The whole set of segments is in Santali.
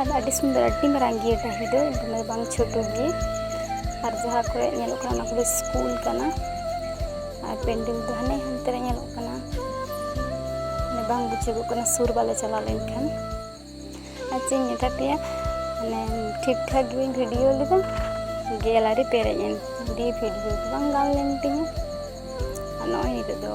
ᱟᱨ ᱟᱹᱰᱤ ᱥᱩᱱᱫᱚᱨ ᱟᱹᱰᱤ ᱢᱟᱨᱟᱝ ᱜᱮᱭᱟ ᱰᱟᱹᱦᱤ ᱫᱚ ᱫᱚᱢᱮ ᱵᱟᱝ ᱪᱷᱳᱴᱳ ᱜᱮ ᱟᱨ ᱡᱟᱦᱟᱸ ᱠᱚᱨᱮ ᱧᱮᱞᱚᱜ ᱠᱟᱱᱟ ᱚᱱᱟ ᱠᱚᱫᱚ ᱥᱠᱩᱞ ᱠᱟᱱᱟ ᱟᱨ ᱯᱮᱱᱰᱮᱞ ᱫᱚ ᱦᱟᱱᱮ ᱦᱟᱱᱛᱮ ᱨᱮ ᱧᱮᱞᱚᱜ ᱠᱟᱱᱟ ᱢᱟᱱᱮ ᱵᱟᱝ ᱵᱩᱡᱷᱟᱹᱜᱚᱜ ᱠᱟᱱᱟ ᱥᱩᱨ ᱵᱟᱞᱮ ᱪᱟᱞᱟᱣ ᱞᱮᱱᱠᱷᱟᱱ ᱟᱨ ᱪᱮᱫ ᱤᱧ ᱢᱮᱛᱟ ᱯᱮᱭᱟ ᱢᱟᱱᱮ ᱴᱷᱤᱠ ᱴᱷᱟᱠ ᱜᱮᱧ ᱵᱷᱤᱰᱤᱭᱳ ᱞᱮᱫᱟ ᱜᱮᱞᱟᱨᱤ ᱯᱮᱨᱮᱡ ᱮᱱ ᱫᱤᱭᱮ ᱵᱷᱤᱰᱤᱭᱳ ᱫᱚ ᱵᱟᱝ ᱜᱟᱱ ᱞᱮᱱ ᱛᱤᱧᱟᱹ ᱟᱨ ᱱᱚᱜᱼᱚᱭ ᱱᱤᱛᱚᱜ ᱫᱚ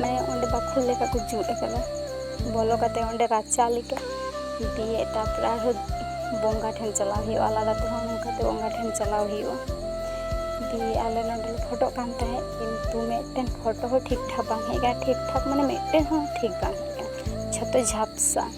ᱢᱟᱱᱮ ᱚᱸᱰᱮ ᱵᱟᱠᱷᱳᱞ ᱞᱮᱠᱟ ᱠᱚ ᱡᱩᱛ ᱟᱠᱟᱫᱟ ᱵᱚᱞᱚ ᱠᱟᱛᱮ ᱚᱸᱰᱮ ᱨᱟᱪᱟ ᱞᱮᱠᱟ ᱫᱤᱭᱮ ᱛᱟᱨᱯᱚᱨᱮ ᱟᱨᱦᱚᱸ ᱵᱚᱸᱜᱟ ᱴᱷᱮᱱ ᱪᱟᱞᱟᱣ ᱦᱩᱭᱩᱜᱼᱟ ᱟᱞᱟᱫᱟ ᱛᱮᱦᱚᱸ ᱱᱚᱝᱠᱟᱛᱮ ᱵᱚᱸᱜᱟ ᱴᱷᱮᱱ ᱪᱟᱞᱟᱣ ᱦᱩᱭᱩᱜᱼᱟ ᱫᱤᱭᱮ ᱟᱞᱮ ᱱᱚᱸᱰᱮ ᱞᱮ ᱯᱷᱳᱴᱳᱜ ᱠᱟᱱ ᱛᱟᱦᱮᱸᱫ ᱠᱤᱱᱛᱩ ᱢᱤᱫᱴᱮᱱ ᱯᱷᱳᱴᱳ ᱦᱚᱸ ᱴᱷᱤᱠ ᱴᱷᱟᱠ ᱵᱟᱝ ᱦᱮᱡ ᱟᱠᱟᱱᱟ ᱴᱷᱤᱠ ᱴᱷᱟᱠ ᱢᱟᱱᱮ ᱢᱤᱫᱴᱮᱱ ᱦᱚᱸ ᱴᱷᱤᱠ ᱵᱟᱝ ᱦᱮᱡ ᱟᱠᱟᱱᱟ ᱡᱷᱚᱛᱚ ᱡᱷᱟᱯᱥᱟ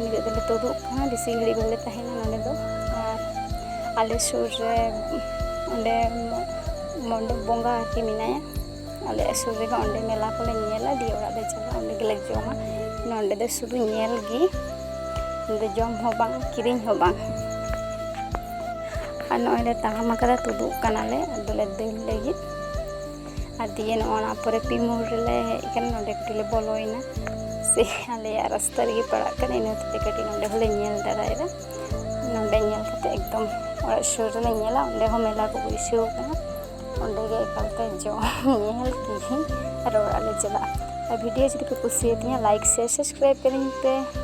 ᱱᱤᱛᱚᱜ ᱫᱚᱞᱮ ᱛᱩᱫᱩᱜ ᱠᱟᱱᱟ ᱵᱮᱥᱤ ᱜᱷᱟᱹᱲᱤᱡ ᱵᱟᱞᱮ ᱛᱟᱦᱮᱱᱟ ᱱᱚᱰᱮ ᱫᱚ ᱟᱨ ᱟᱞᱮ ᱥᱩᱨ ᱨᱮ ᱚᱸᱰᱮ ᱢᱚᱱᱰᱚᱯ ᱵᱚᱸᱜᱟ ᱟᱨᱠᱤ ᱢᱮᱱᱟᱭᱟ ᱟᱞᱮ ᱥᱩᱨ ᱨᱮᱜᱮ ᱚᱸᱰᱮ ᱢᱮᱞᱟ ᱠᱚᱞᱮ ᱧᱮᱞᱟ ᱫᱤᱭᱮ ᱚᱲᱟᱜ ᱞᱮ ᱪᱟᱞᱟᱜᱼᱟ ᱚᱸᱰᱮ ᱜᱮᱞᱮ ᱡᱚᱢᱟ ᱱᱚᱰᱮ ᱫᱚ ᱥᱩᱫᱷᱩ ᱧᱮᱞ ᱜᱮ ᱱᱚᱰᱮ ᱡᱚᱢ ᱦᱚᱸ ᱵᱟᱝ ᱠᱤᱨᱤᱧ ᱦᱚᱸ ᱵᱟᱝ ᱟᱨ ᱱᱚᱜᱼᱚᱭ ᱞᱮ ᱛᱟᱲᱟᱢ ᱟᱠᱟᱫᱟ ᱛᱩᱫᱩᱜ ᱠᱟᱱᱟᱞᱮ ᱟᱫᱚᱞᱮ ᱫᱟᱹᱲ ᱞᱟᱹᱜᱤᱫ ᱟᱨ ᱫᱤᱭᱮ ᱱᱚᱜᱼᱚ ᱱᱟ ᱯᱚᱨᱮ ᱯᱤ ᱢᱳᱲ ᱨᱮᱞᱮ ᱦᱮᱡ ᱟᱠᱟᱱᱟ ᱱᱚᱰᱮ ᱠᱟᱹᱴᱤᱡ ᱞᱮ ᱵᱚᱞᱚᱭᱮᱱᱟ ᱥᱮ ᱟᱞᱮᱭᱟᱜ ᱨᱟᱥᱛᱟ ᱨᱮᱜᱮ ᱯᱟᱲᱟᱜ ᱠᱟᱱᱟ ᱤᱱᱟᱹ ᱦᱚᱛᱮᱡ ᱠᱟᱹᱴᱤᱡ ᱱᱚᱰᱮ ᱦᱚᱸᱞᱮ ᱧᱮᱞ ᱫᱟᱲᱟᱭᱮᱫᱟ ᱱᱚᱰᱮ ᱧᱮᱞ ᱠᱟᱛᱮ ᱮᱠᱫᱚᱢ ᱚᱲᱟᱜ ᱥᱩᱨ ᱨᱮᱞᱮ ᱧᱮᱞᱟ ᱚᱸᱰᱮ ᱦᱚᱸ ᱢᱮᱞᱟ ᱠᱚ ᱵᱟᱹᱭᱥᱟᱹᱣ ᱟᱠᱟᱱᱟ ᱚᱸᱰᱮ ᱜᱮ ᱮᱠᱟᱞᱛᱮ ᱡᱚᱢ ᱧᱮᱞ ᱠᱤᱨᱤᱧ ᱟᱨ ᱚᱲᱟᱜ ᱞᱮ ᱪᱟᱞᱟᱜᱼᱟ ᱟᱨ ᱵᱷᱤᱰᱤᱭᱳ ᱡᱩᱫᱤ ᱯᱮ ᱠᱩᱥᱤᱭᱟᱛᱤᱧᱟ ᱞᱟᱭᱤᱠ ᱥᱮᱭᱟᱨ ᱥᱟᱵᱥᱠᱨᱟᱭᱤᱵᱽ ᱠᱟᱹᱞᱤᱧ ᱯᱮ